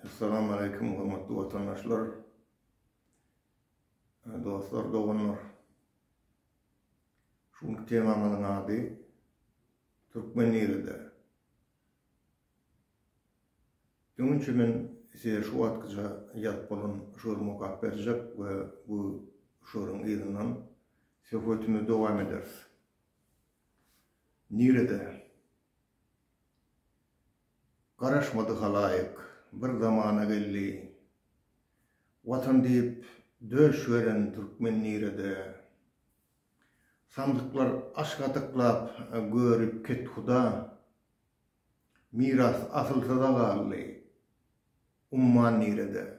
Assalamu aleykum hormatly watandaşlar, dostlar, doganlar. Şu günki temamyzyň ady Türkmen nirede? Dünçe men size şu wagtkyça ýazyp bolan şury mukap berjek we bu şuryň yzyndan söhbetimizi dowam ederis. Nirede? Garaşmady halaýyk, bir zamana geldi. Watan diýip döş beren türkmen nirede? Samsyklar aşk atyklap görüp kethuda. Miras asylsyza galdy, umman nirede?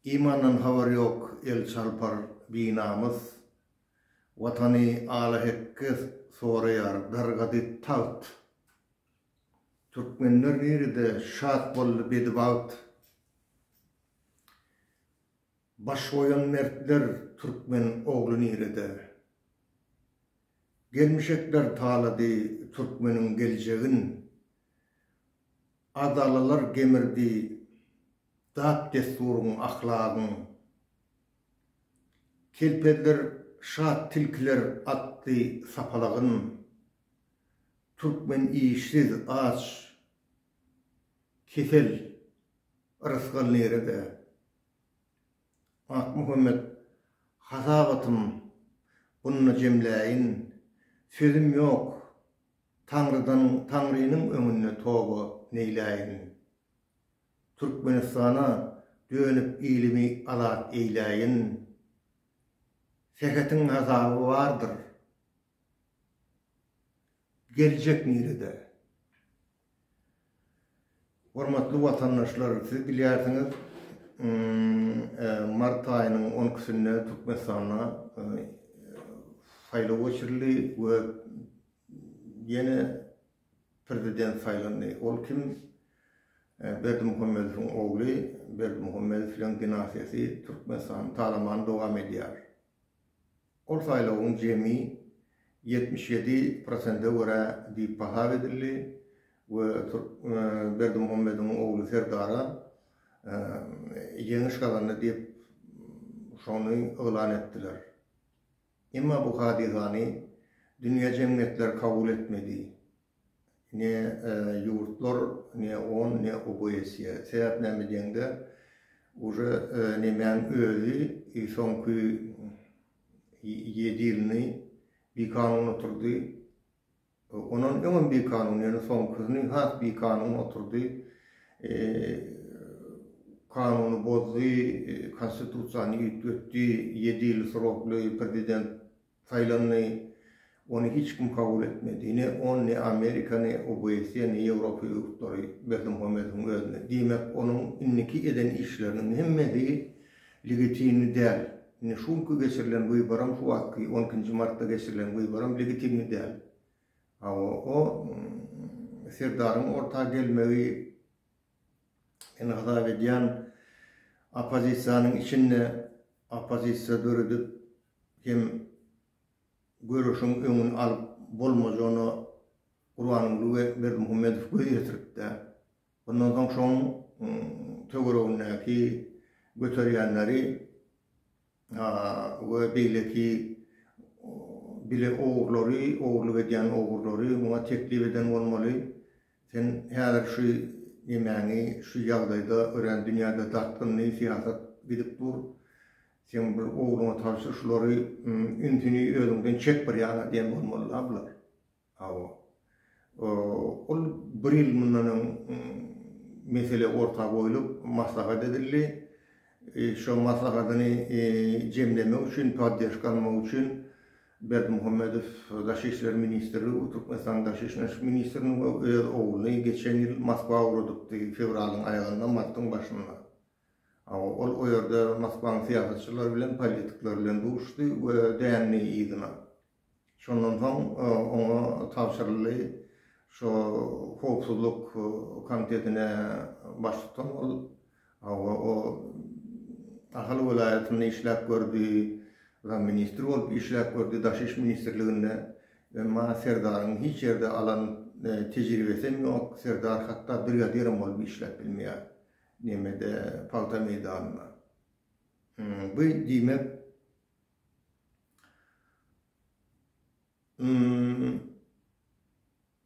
Imandan habary ýok el çarpar binamys, Watany ala-hekge soraýar dargady tagt. Türkmenler nirede şat boldy bedibagt, Baş goýan mertler türkmen ogly nirede? Gelmişekler talady türkmeniň geljegin, Adalalar gemirdi Dap-dessuryň, ahlagyň, Kelpezler şat tilkiler atly sapalagyn, Türkmen işsiz, aç, kesel, rysgal nirede? Akmuhammet hasabatym bunda jemläýin, Sözüm ýok, Taňrydan, Taňrynyň öňünde toba neýläýin. Türkmenistana dönüp ilimi azat eýläýin. Sähetiň hasaby bardyr. Geljek nirede? Hormatly watandaşlar siz bilýärsiňiz mart aýynyň on ikisinde Türkmenistanda saýlaw geçirildi we ýene Prezident saýlandy. Ol kim? Berdimuhamedowyň ogly Berdimuhamedowlaryň dinastiýasy Türkmenistanyň talamany dowam edýär. Ol saýlawyň jemi ýetmiş ýedi prosente görä diýip hasap edildi we Berdimuhamedowyň ogly Serdara ýeňiş gazandy diýip şony yglan etdiler. Emma bu hadysany dünýä jemgyýetleri kabul etmedi. Ne ýurtlar, ne on, ne OBSE. Sebäp näme diýeňde, uje nemäň özi soňky ýedi ýylyny bikanun oturdy. Ondan öňem bikanun, ýöne soňkysyny has bikanun oturdy, kanuny bozdy, Konstitusiýany üýtgetdi, ýedi ýyl srokly prezident saýlandy, ony hiç kim kabul etmedi, ne on, ne Amerika, ne OBSE, ne Ýewropa ýurtlary Berdimuhamedowyň özüni. Diýmek, onuň indiki eden işleriniň hemmesi Legitimni däl. Indi şu günki geçirilen wyboram şu wagtky on ikinji martda geçirilen wyboram legitimni däl. Hawa o Serdaryň orta gelmegi meni gazap edýän oppozisiýanyň içinde oppozisiýa döredip hem göreşiň öňüni alyp bolmajagyna Gurbanguly we Berdimuhamedow göz ýetiripdä. Ondan soň şoň töweregindäki göterýänleri we beýleki bile ogurlary, ogurlyk edýän ogurlary muňa teklip eden bolmaly. Sen häzir şu nemäňi şu ýagdaýda örän dünýäde dartgynly syýasat gidip dur. Sen bir ogluňa tabşyr şulary ünsüni özüňden çek bir ýana diýen bolmaly-la bular. Hawa. Ol bir ýyl mundan öň mesele orta goýlup, maslahat edildi. Şo maslahatyny jemlemek üçin, poddержка almak üçin Berdimuhamedow daşy işler ministri u Türkmenistanyň daşy işler ministrini we öz ogluny geçen ýyl Moskwa ugradypdy, fewralyň aýagynda, martyň başynda. Hawa, ol o ýerde Moskwaň syýasatçylary bilen, politikler bilen duşdy we dändi yzyna. Şondan soň oňa tabşyryldy. Şu howpsuzlyk komitetine baş tutan ol. Hawa, o Ahal welaýatynda işläp gördi, zamministr bolup işläp gördi Daşy iş ministrliginde. Emma Serdaryň hiç ýerde alan tejribesem ýok. Serdar hatda brigadirem bolup işläp bilmeýär nemede pagta meýdanynda. Bu diýmek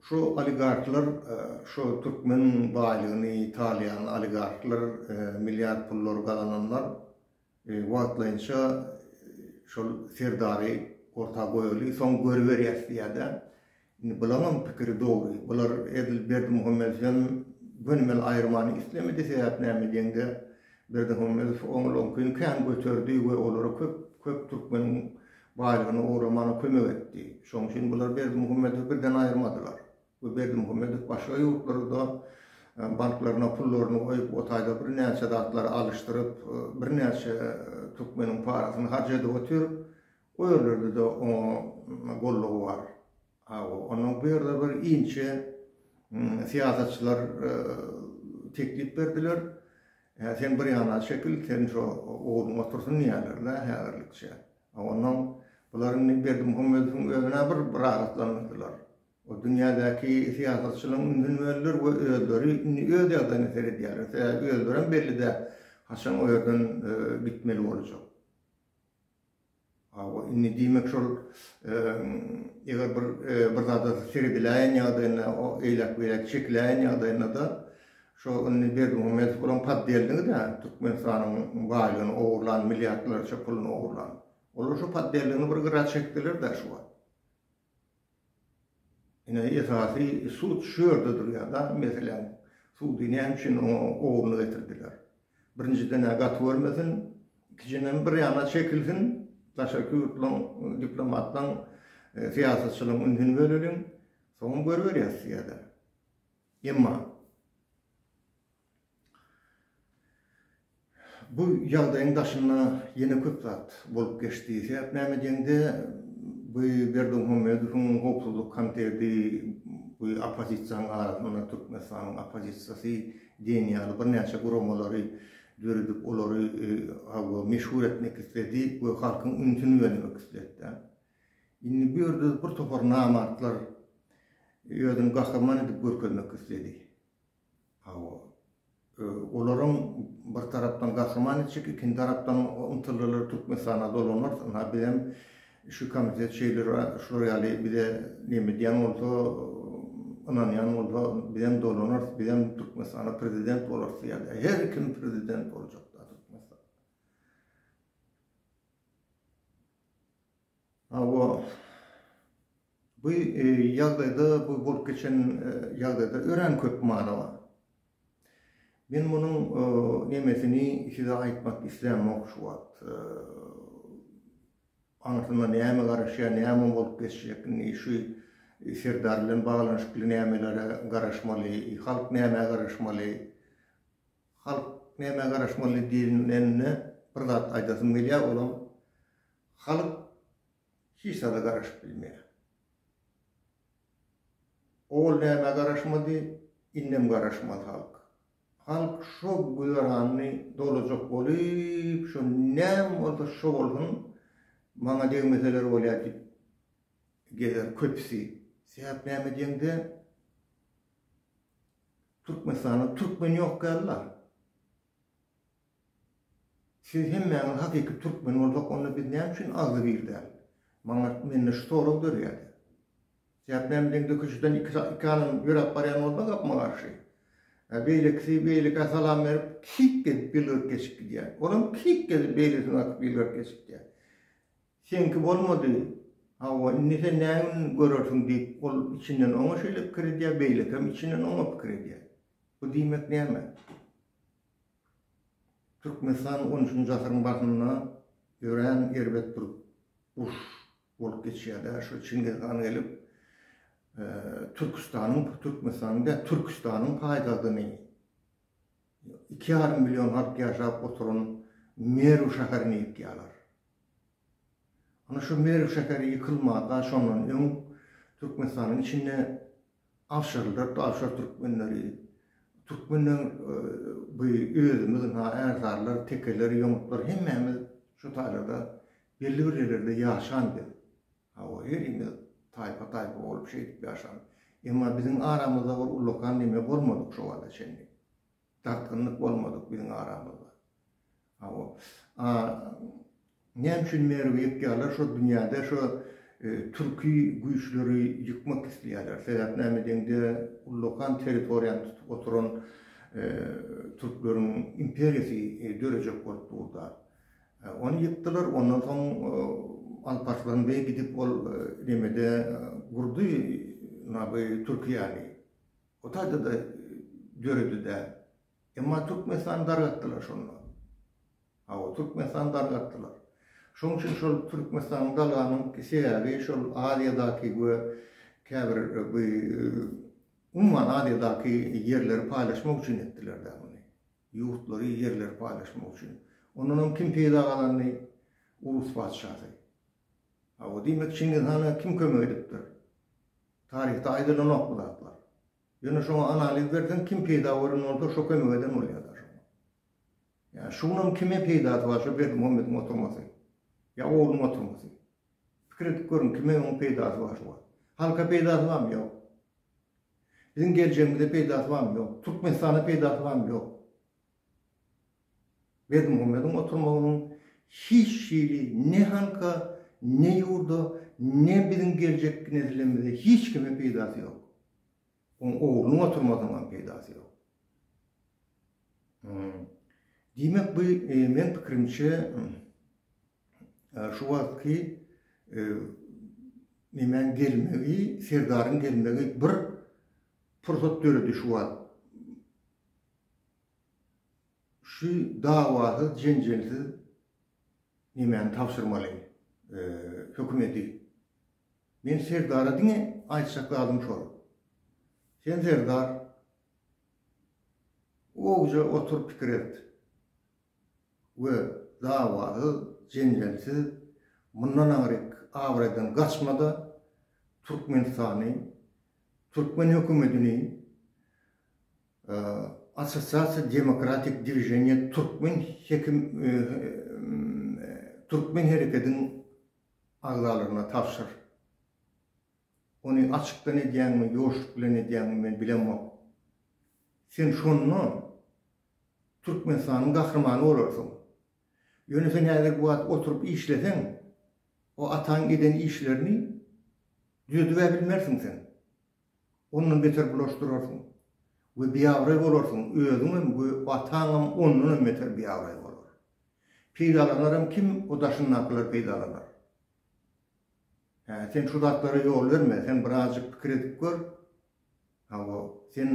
Şu oligarklar şu türkmen baýlygyny talaýan oligarklar milliard pullary gazananlar wagtlaýynça şol serdary orta goýaly soň görüberýäs diýýärler. Indi bulaňam pikiri dogry. Bular edil Berdimuhamedow hem gönümel aýyrmany islemedi, sebäp näme diýeňde, Berdimuhamedow oňalaňkyny kän göterdi we olara köp, köp türkmeniň baýlygyny ogramana kömek etdi. Şonuň üçin bular Berdimuhamedowy birden aýyrmadylar we Berdimuhamedow başga ýurtlarda banklaryna pullaryny goýup, o taýda birnäçe zatlary alyşdyryp, birnäçe türkmeniň parasyny harç edip otyr. O ýerlerde-de oňa gollugy bar. Hawa, onuň bu ýerde bir inçe syýasatçylar teklip berdiler. Hä, sen bir ýana çekil, seni şo ogluň otursyn diýerler-le häzirlikçe. A onuň, bular indi Berdimuhamedowyň özüne bir rahatlandyrdylar. O dünýädäki syýasatçylaryň ünsüni böldüler we özleri indi öz ýagdaýyna seredýärler. Sebäbi özlerem belli däl, haçan o ýerden gitmeli boljak. Hawa, indi diýmek şol eger bir bir zada serediläýen ýagdaýynda, eýläk-beýläk çekiläýen ýagdaýynda-da, şo indi Berdimuhamedow bolan poddelnigidir-ä, Türkmenistanyň baýlygyny ogurlan, milliardlarça puluny ogurlan. Olar şo poddelnigini bir gyra çekdiler-dä şu wagt. Ine, esasy sud şu ýerde durýar da, meseläň. Sudy näme üçin oňa ogruna getirdiler? Birinjiden-ä gaty görmesin, ikijenem bir ýana çekilsin, daşarky ýurtlaryň diplomatlaryň, syýasatçylaryň ünsüni böleliň, soňam görüberýäs diýerler. Emma. Bu ýagdaýyň daşynda ýene köp zat bolup geçdi. Sebäp näme diýeňde, bu Berdimuhamedowyň Howpsuzlyk komiteti bu oppozisiýanyň arasynda Türkmenistanyň oppozisiýasy diýen ýaly birnäçe guramalary döredip, olary hawa meşhur etmek isledi we halkyň ünsüni bölmek isledi. Indi bu ýerde birtopar namartlar özüni gahryman edip görkezmek isledi. Hawa. Olaram bir tarapdan gahryman etjek, ikinji tarapdan ymtyldylar Türkmenistana dolanarys, ynha bizem şu komitet şeýle şular ýaly bize neme edýän bolsa, ynanýan bolsa bizem dolanarys, bizem Türkmenistana prezident bolarys diýýän. Her kim prezident boljak-da Türkmenistana. Hawa, bu ýagdaýda, bu bolup geçen ýagdaýda örän köp many bar. Men munuň nemesini size aýtmak islämok şu wagt. Aňyrsyna näme garaşýar, näme bolup geçjek, indi şu Serdar bilen baglanyşykly nämelere garaşmaly, halk nämä garaşmaly? Halk nämä garaşmaly diýilende, bir zat aýdasym gelýär, olam Halk hiç zada garaşyp bilmeýär. Ol nämä garaşmady, indem garaşmaz halk. Halk şo göranny dolajak bolup, şo näme bolsa şo bolsun, maňa degmeseler bolýar diýip gezer köpüsi. Sebäp näme diýeňde, Türkmenistanda türkmen ýok ýaly-la. Siz hemmäňiz hakyky türkmen bolsak onda biz näme üçin agzy bir däl? Maňa mende şu sorag dörýär. Sebäp näme deň döküşden iki iki adam ýöräp barýan bolsa gapma garşy. Beýlekisi beýlekä salam berip kik gezip ýylgyryp geçip gidýär. Olam kik gezip beýlesini atyp ýylgyryp geçip gidýär. Seňki bolmady. Hawa indi sen nägün görersiň diýip ol içinden oňa şeýle pikir edýär beýlekem içinden oňa pikir edýär. Bu diýmek näme? Türkmenistan on üçünji asyryň başynda örän erbet bir uruş bolup geçýär-de, şo Çingiz han gelip, Türküstanyň, Türkmenistanyň däl, Türküstanyň paýtagtyny, iki ýarym million halk ýaşap oturan Merw şäherini ýykýarlar. Ana şu Merw şäheri ýykylmazda şondan öň Türkmenistanyň içinde Awşaryldyr Awşar Türkmenleri Türkmenler bu özümiz ha Ärsarlar Tekeler Ýomutlar hemmämiz şu taýlarda belli bir ýerlerde ýaşan biz. Hawa herimiz taýpa taýpa bolup şeýdip ýaşan. Emma biziň aramyzda bir ullakan neme bolmadyk şu wagta çenli. Dartgynlyk bolmadyk biziň aramyzda. Hawa. A näme üçin Merwi ýykýarlar? Şo dünýäde şo türki güýçleri ýykmak isleýärler. Sebäp näme deňde ullakan territoriýany tutup oturan türkleriň imperiýasy dörejek bolup durda. Ony ýykdylar, ondan soň Alparslan beý gidip ol nemede gurdy naby türkiýany. O taýda-da döredide. Emma Türkmenistany dargatdylar şonda. Hawa, Türkmenistany dargatdylar. Şonuň üçin şol Türkmenistany dalganyň sebäbi şol Aziýadaky we käbir bu umuman Aziýadaky ýerleri paýlaşmak üçin etdiler-dä muny. Ýurtlary, ýerleri paýlaşmak üçin. Ondan hem kim peýda gazandy? Urus patyşasy. Hawa, diýmek Çingiz hana kim kömek edipdir? Taryhda aýdylanok bu zatlar. Ýöne şoňa analiz berseň kim peýda gören bolsa şo kömek eden bolýada şoňa. Ýa şuňam kime peýdasy bar şo Berdimuhamediň oturmasy. Ýa ogluň oturmasy. Pikir edip görüň kime oň peýdasy bar şu wagt. Halka peýdasy barmy ýok. Biziň geljegimize peýdasy barmy ýok. Türkmenistana peýdasy barmy ýok. Berdimuhammediň oturmagynyň hiç hili ne halka, ne ýurda, ne biziň geljekki nesillerimize hiç kime peýdasy ýok. Oň oglunyň oturmasynyň hem peýdasy ýok. Diýmek bu meň pikirimçe şu wagtky nemäň gelmegi, Serdaryň gelmegi bir pursat döredi şu wagt. Şu dawasyz, jenjelsiz nemäni tabşyrmaly hökümeti? Men Serdara diňe aýtjak zadym şol. Sen Serdar owja otur pikir et we dawasyz, jenjelsiz mundan aňryk abraýdan gaçma-da Türkmenistany, türkmen hökümetini Assosiasiýa Demokratik Dwiženiýa Türkmen hekim Türkmen herekediň agzalaryna tabşyr. Ony açykdan edýäňmi, ýoşluk bilen edýäňmi men bilemok. Sen şonda Türkmenistanyň gahrymany bolarsyň. Ýöne sen häzirki wagt oturyp işleseň, o ataň eden işlerini düzedibä bilmersiň sen. Ondan beter bulaşdyrarsyň we biabraý bolarsyň, özüňem we ataňam ondanam beter biabraý bolar. Peýdalanaram kim, o daşyndakylar peýdalanar. Hä, sen şu zatlara ýol berme, sen birazjyk pikir edip gör. Hawa, sen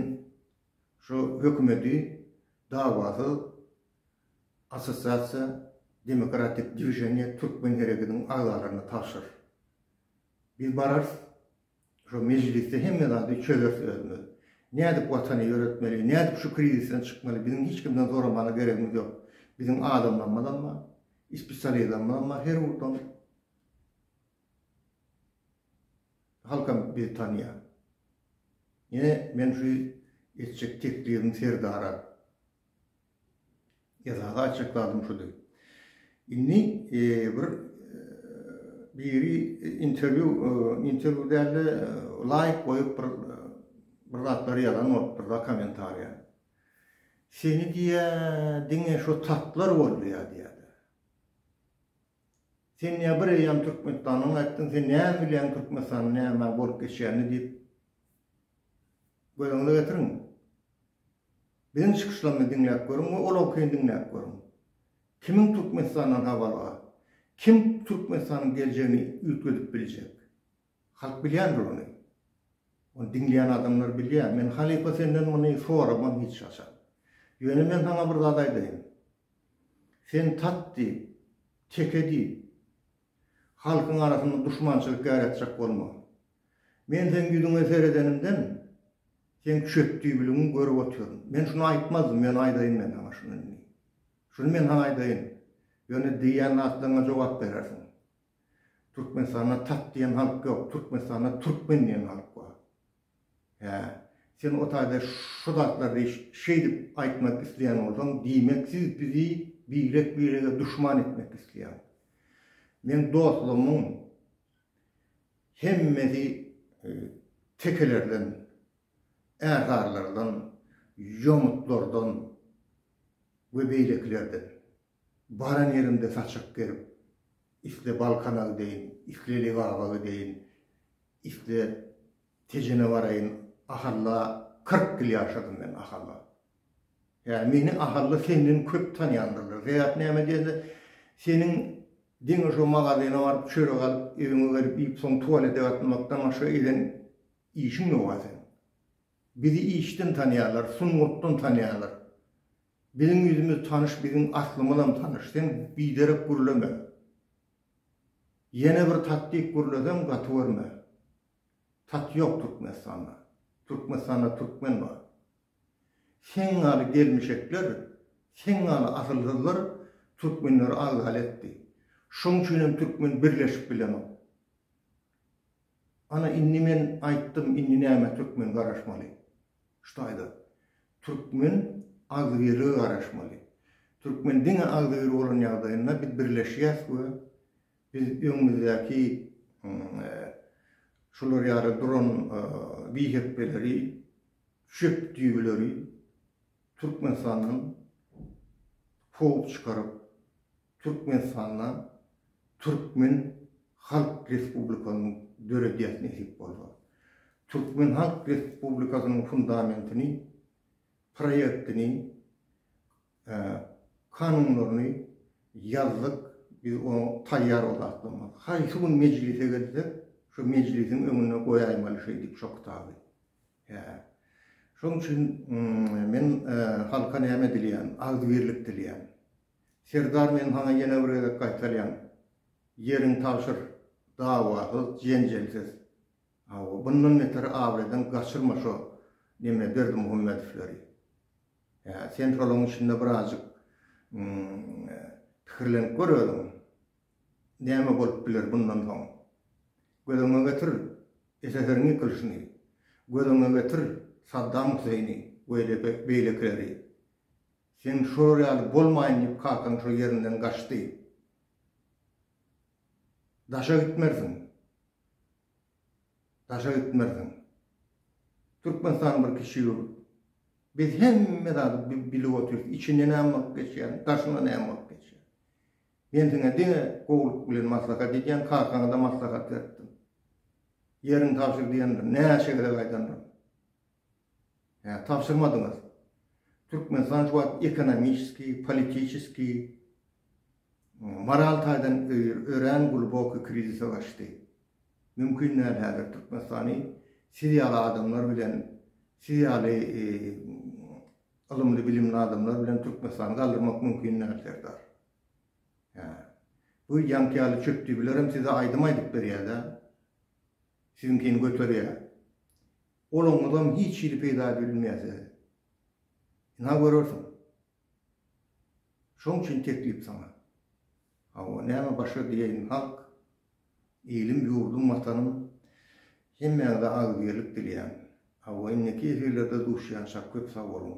şu hökümeti dawasyz Assosiasiýa demokratik dwiženiýa türkmen hereketiň agzalaryna tabşyr. Biz bararys. Şo mejlisde hemme zady çözeris özümiz. Nädip Watany ýöretmeli, nädip şu krizisden çykmaly biziň hiç kimden zoramaga geregimiz ýok. Biziň adamlarymyzam bar, ispisializmizam bar her ugurdan. Halkam bizi tanýar. Ýene men şu etjek teklibim Serdara. Esasy aýtjak zadym şudy. Indi bir biri interwýu, interwýu dälde laýk goýup bir bir zatlar ýazan bolupdyr da kommentariýa. Seni diýýä diňe şu tatlar bolýa diýýä. Sen nebir eýýäm Türkmenistanyň aýtdyň, sen näme bilýäň Türkmenistanyň nämä bolup geçýänini diýip göz öňüne getiriň. Biziň çykyşlarymyzy diňläp görüň we olaňkyny diňläp görüň. Kimiň Türkmenistandan habary bar? Kim Türkmenistanyň geljegini üýtgedip biljek? Halk bilýändir ony. Ony diňleýän adamlar bilýär. Men halypa senden muny soramam hiç haçan. Ýöne men saňa bir zat aýdaýyn. Sen tat diý, teke diý. Halkyň arasynda duşmançylyk ýaratjak bolma. Men seň ýüzüňe seredenimden, seň çöpdüýbiligiňi görüp otyryn. Men şuny aýtmazdym, ýöne aýdaýyn men saňa şuny indi. Şuny men saňa aýdaýyn, ýöne diýýän zatlaryňa jogap berersiň. Türkmenistanda tat diýen halk ýok, Türkmenistanda türkmen diýen halk bar. Hä, sen o taýda şu zatlary şeýdip aýtmak isleýän bolsaň, diýmek siz bizi birek-birege duşman etmek isleýäň. Meň dostlarymyň hemmesi tekelerden, ärsarylardan, ýomutlardan we beýlekilerden. Baran ýeriňde saçak gerip, isle Balkanagy deýin, isle Lebabagy deýin, isle Tejene baraýyn, Ahalla kyrk ýyl ýaşadym men, Ahalla. Ýa meni Ahalla senden köp tanýandyrlar. Sebäp näme diýende, seniň diňe şo magazyna baryp, çörek alyp, ewiňe gelip iýip, soň tualete gatnamakdan başga eden işiň ýok-a seniň. Bizi işden tanýarlar, sungatdan tanýarlar. Biziň ýüzümiz tanyş biziň aslymyzam tanyş sen biderek gürleme. Ýene bir tatdyk gürleseň gaty görme. Tat ýok Türkmenistanda. Türkmenistanda türkmen bar. Seň ýaly gelmişekler, seň ýaly asylsyzlar türkmenleri azgal etdi. Şoň üçinem türkmen birleşip bilenok. Ana indi men aýtdym indi näme türkmen garaşmaly. Şda aýda. Türkmen agzybirlige garaşmaly. Türkmen diňe agzybir bolan ýagdaýynda biz birleşýäs we biz öňümizdäki şular ýaly duran bihepbeleri çöp düýbüleri Türkmenistandan kowup çykaryp Türkmenistanda Türkmen Halk Respublikasyny döredýäs nesip bolsa. Türkmen Halk Respublikasynyň fundamentini, proýektini, kanunlaryny ýazdyk, biz onuň taýýar o zatlaryny. Haýsy gün mejlise gelse, şo mejlisiň öňüne goýaýmaly şeýdip şo kitaby. Hä. Şonuň üçin men halka näme dileýän, agzybirlik dileýän. Serdar men saňa ýene bir gezek gaýtalýan, ýeriň tabşyr, dawasyz, jenjelsiz. Hawa, bundan beter abraýdan gaçyrma şo neme Berdimuhamedowleri. Hä, sen şolaň içinde birazjyk pikirlenip gör özüň. Näme bolup biler bundan soň? Göz öňüňe getir, SSR-iň ýykylyşyny, göz öňüňe getir, Saddam Huseýni we beýlekileri. Sen şolar ýaly bolmaýyn diýip kakaň şo ýerinden gaçdy. Daşa gitmersiň. Daşa gitmersiň. Türkmenistan bir kiçi ýurt. Biz hemme zady bilip otyrys. Içinde näme bolup geçýäni, daşynda näme bolup geçýäni. Men siňe diňe gowulyk bilen maslahat edýän, kakaňa-da maslahat beripdim. Ýeriňi tabşyr diýendim. Näçe gezek aýdandyr. Hä, tabşyrmadyňyz. Türkmenistan şu wagt ekonomiçeskiý, politiçeskiý, moral taýdan örän gluboky krizise gaçdy. Mümkin däl häzir Türkmenistany siz ýaly adamlar bilen, siz ýaly ylymly-bilimli adamlar bilen Türkmenistany galdyrmak mümkin däl, serdar. Hä. Bu ýaňky ýaly çöpdüýbilerem size aýdym aýdyp berýär-dä. Siziňkini göterýär. Goluňyzam hiç hili peýda bilmeýär size. Ynha görersiň. Şoň üçin teklip saňa. Hawa, näme başga diýeýin, halk, ilim, ýurdum, watanym, hemmäňize agzybirlik dileýän. Hawa, indiki efirlerde duşýançak köp sag boluň.